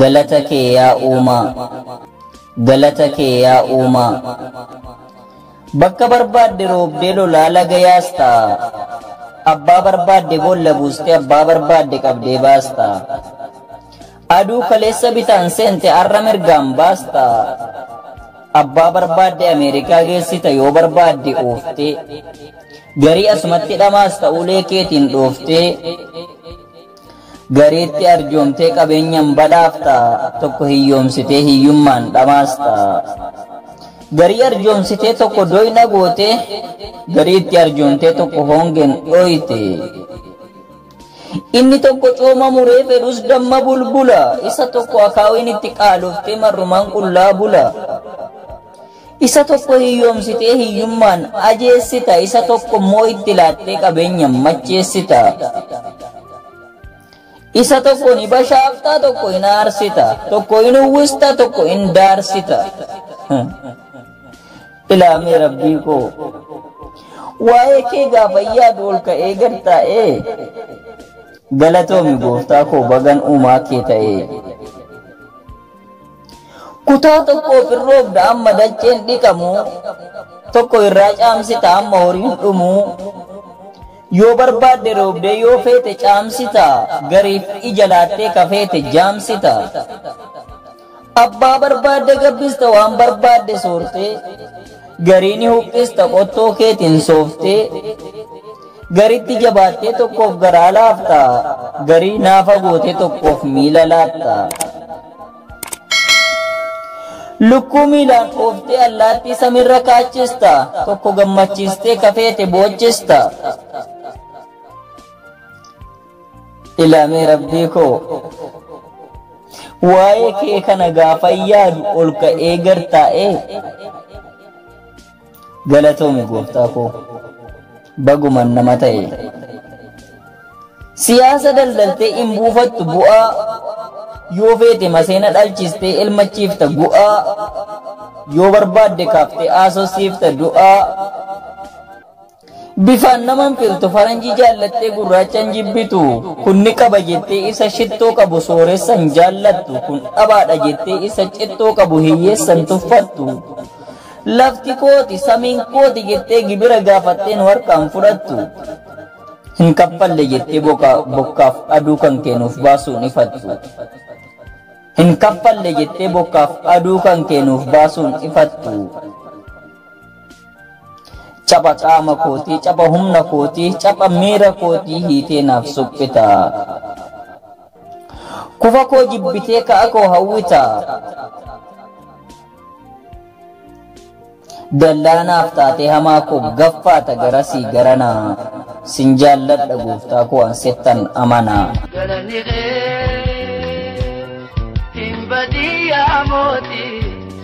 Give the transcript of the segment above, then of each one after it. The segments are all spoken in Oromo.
Galata kee yaa uumaa Galata kee yaa uumaa Bakka barbaadde roobdee lolaa laga yaasta Abbaa barbaadde boolla buustee abbaa barbaadde qabdee baasta Aduu kaleessa bitaan seente arra mirgaan baasta. Abbaa barbaadde Ameerikaa geessita yoo barbaadde ooftee. Garii asumatti dhamaas ta'uulee keetiin dhooftee. Gariitti arjoomtee qabeenyaan badhaafta tokko hiyyoomsitee hiyyummaan dhamaasta. Garii arjoomsitee tokko doyna goote gariitti arjoomtee tokko hoongeen dhooyte. Inni tokko cooma muree fedhus damma bulbula, isa tokko akaawiin itti qaaloftee marrumaan qullaa bula. Isa tokko hiyyoomsitee hiyyummaan ajeessita, isa tokko immoo itti laattee qabeenya macheessita. Isa tokko ni bashaaftaa, tokko hin aarsita, tokko hin uwwista, tokko hin daarsita. Ilaa mee rabbii koo waa'ee kee gaafa yaadu ol ka'ee gad taa'ee galatoomi gooftaa koo bagan uumaa kee ta'ee. Kutaa tokkoof hin roobda amma dacheen dhiqamu tokko irraa caamsita amma horiin dhumu yoo barbaadde roobdee yoo feete caamsita gariif ija laattee kafeete jaamsita. Abbaa barbaadde gabbista waan barbaadde soortee garii ni huqqista qottoo keetiin sooftee garitti jabaattee tokkoof garaa laafta garii naafa gootee tokkoof miila laatta. Lukkuu miilaan ooftee allaattii samiirra kaachista tokko gammachiistee kafeete boochista. Ilaamee rabbii koo waa'ee kee kana gaafa yaadu ol ka'ee gad taa'ee galatoomi gooftaa koo baguman nama ta'e siyaasa daldaltee hin buufattu bu'aa yoo feete maseena dhalchistee ilmachiifta gu'aa yoo barbaadde kaaftee haasofsiifta du'aa Bifaan nama hin filtu, faranjii jaallattee gurraacha hin jibbitu. Kun ni qaba jettee isa shittoo qabu sooressa hin jaallattu. Kun dhabaadha jettee isa cittoo qabu hiyyeessa hin tuffattu. Lafti kooti, samiin kooti jettee gibira gaafattee nu harkaa hin fudhattu. Hin kaffalle jettee bokaa- bokkaaf aduu kan kee nuuf baasuu hin ifattu. Hin kaffalle jettee bokkaaf aduu kan kee nuuf baasuu hin ifattu. Capha qaama kootii, capha humna kootii, capha miira kootii hiitee naaf suphita. Kufa koo jibbitee ka'a koo hawwita. Dallaa naaf taatee hamaa koo gaffaata garasii garana. Sin jaalladha gooftaa koo an sittan amana. Galanni kee hin badii yaa mootii.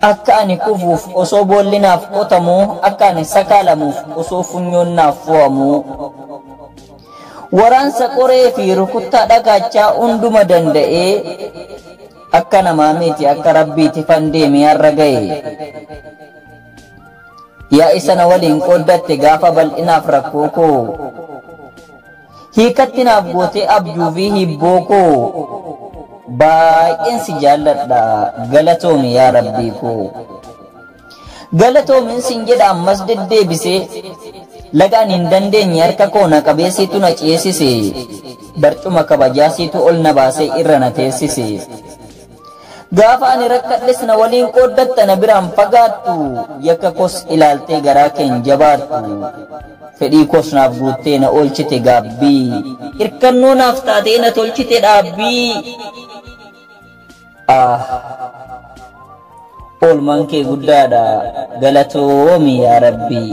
Akka ani kufuuf osoo boolli naaf qotamuu, akka ani sakaalamuuf osoo funyoon naaf fo'amuu. Waraansa qoree fi rukuttaa dhagaachaa hunduma danda'ee, akka namaa miti akka Rabbiiti fan deemee har'a ga'e. Yaa isa na waliin qooddatte gaafa bal'inaaf rakkoo koo. Hiikatti naaf gootee abjuu fi hiibboo koo baay'een si jaalladha galatoomi yaa rabbii koo. Galatoomin sin jedha ammas deddeebisee laga ani hin dandeenye harka koo na qabee siitu na ceesise barcuma kabajaa siitu ol na baasee irra na teessise. Gaafa ani rakkadhes na waliin qooddatta na biraan fagaattu yakka koos ilaaltee garaa kee hin jabaattu fedhii koos naaf guuttee na oolchite gaabbii hirkannoo naaf taatee na tolchite dhaabbii ah oolmaan kee guddaadha galatoomi yaa rabbii.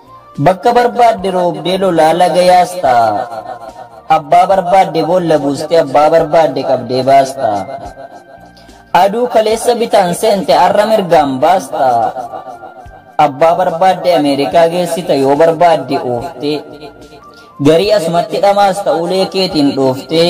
Bakka barbaadde roobdee lolaa laga yaasta. Abbaa barbaadde boolla buuste abbaa barbaadde qabdee baasta. Aduu kaleessa bitaan seente arra mirgaan baasta. Abbaa barbaadde Ameerikaa geessita yoo barbaadde ooftee. Garii asumatti dhamaasta ulee keetiin dhooftee.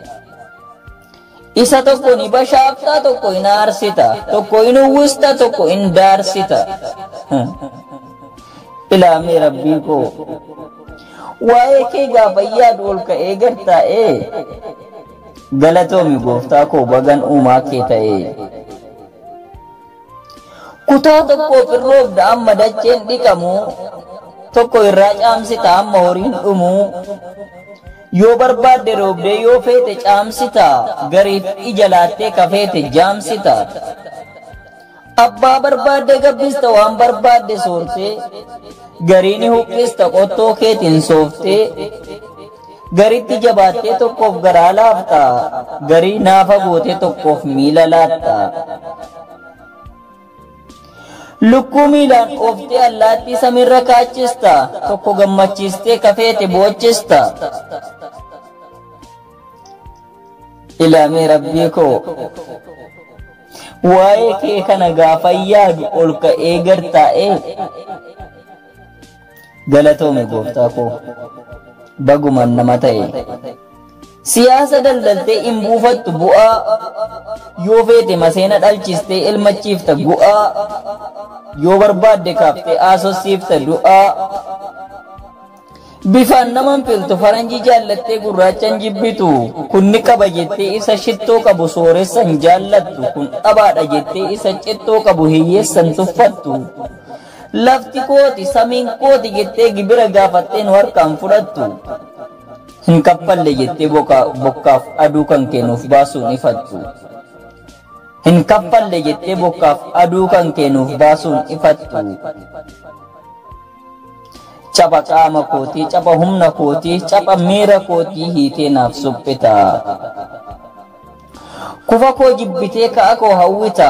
Isa tokko ni bashaafta, tokko hin aarsita, tokko hin uwwista, tokko hin daarsita. Ilaamee rabbii koo. Waa'ee kee gaafa yaadu ol ka'ee gad taa'ee. Galatoomi gooftaa koo bagan uumaa kee ta'ee. Kutaa tokkoof hin roobda amma dacheen dhiqamu, tokko irraa caamsita amma horiin dhumu, Yoo barbaadde dhoobdee yoo feete caamsita Gariif ija laattee ka feete jaamsita Abbaa barbaadde gabbista waan barbaadde soortee Garii ni huqqista qottoo keetiin sooftee Garitti jabaattee tokkoof garaa laafta Garii naafa gootee tokkoof miila laatta Lukkuu miilaan ooftee allaattii samiirra kaachista. Tokko gammachiistee kafeete boochista. Ilaamee rabbii koo. Waa'ee kee kana gaafa yaadu ol ka'ee gad taa'ee. Galatoomi gooftaa koo. Baguman nama ta'e. Siyaasa daldaltee hin buufattu bu'aa yoo feete maseena dhalchistee elmachiifta gu'aa yoo barbaadde kaaftee haasossiifta du'aa bifaan nama hin filtu faranjii jaallattee gurraacha hin jibbitu kun ni qaba jettee isa shittoo qabu sooressa hin jaallattu kun dhabaadha jettee isa cittoo qabu hiyyeessa hin tuffattu Lafti kooti, samiin kooti jettee gibira gaafattee nu harkaa hin fudhattu. Hin kaffalle jettee bokkaaf aduu kan kee nuuf baasuu hin ifattu. Hin kaffalle jettee bokkaaf aduu kan kee nuuf baasuu hin ifattu. Capha qaama kootii, capha humna kootii, capha miira kootii hiitee naaf suphita. Kufa koo jibbitee ka'a koo hawwita.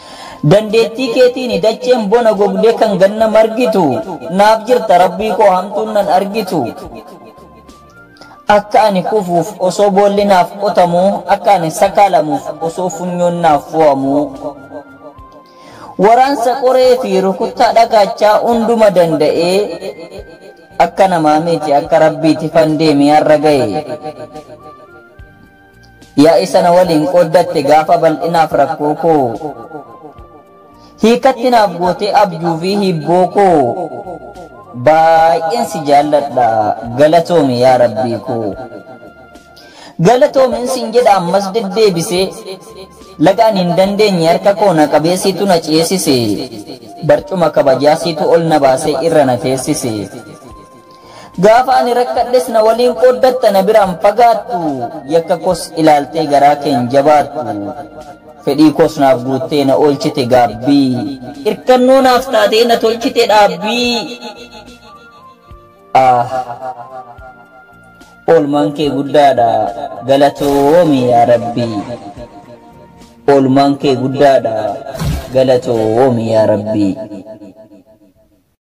Dandeettii keetiini dacheen bona gogdee kan ganna margitu naaf jirta rabbii koo hamtuun nan argitu akka ani kufuuf osoo boolli naaf qotamu akka ani sakaalamuuf osoo funyoon naaf fo'amu waraansa qoree fi rukuttaa dhagaachaa hunduma danda'ee akka namaa miti akka rabbiiti fandeemi har'a ga'e. Yaa'ii sana waliin qooddatte gaafa bal'inaaf rakkoo koo. Hiikatti naaf gootee abjuu fi hiibboo koo. Baay'een si jaalladha galatoomi yaa rabbii koo. Galatoomin sin jedha ammas deddeebisee. Laga ani hin dandeenye harka koo na qabee siitu na ceesise. Barcuma kabajaa siitu ol na baasee irra na teessise. Gaafa ani rakkadhes na waliin qooddatta na biraan fagaattu yakka koos ilaaltee garaa keen jabaattu fedhii koos naaf guuttee na oolchite gaabbii irkannoo naaf taatee na tolchite dhaabbii ah oolmaan kee guddaadha galatoomi yaa rabbii oolmaan kee guddaadha galatoomi yaa rabbii.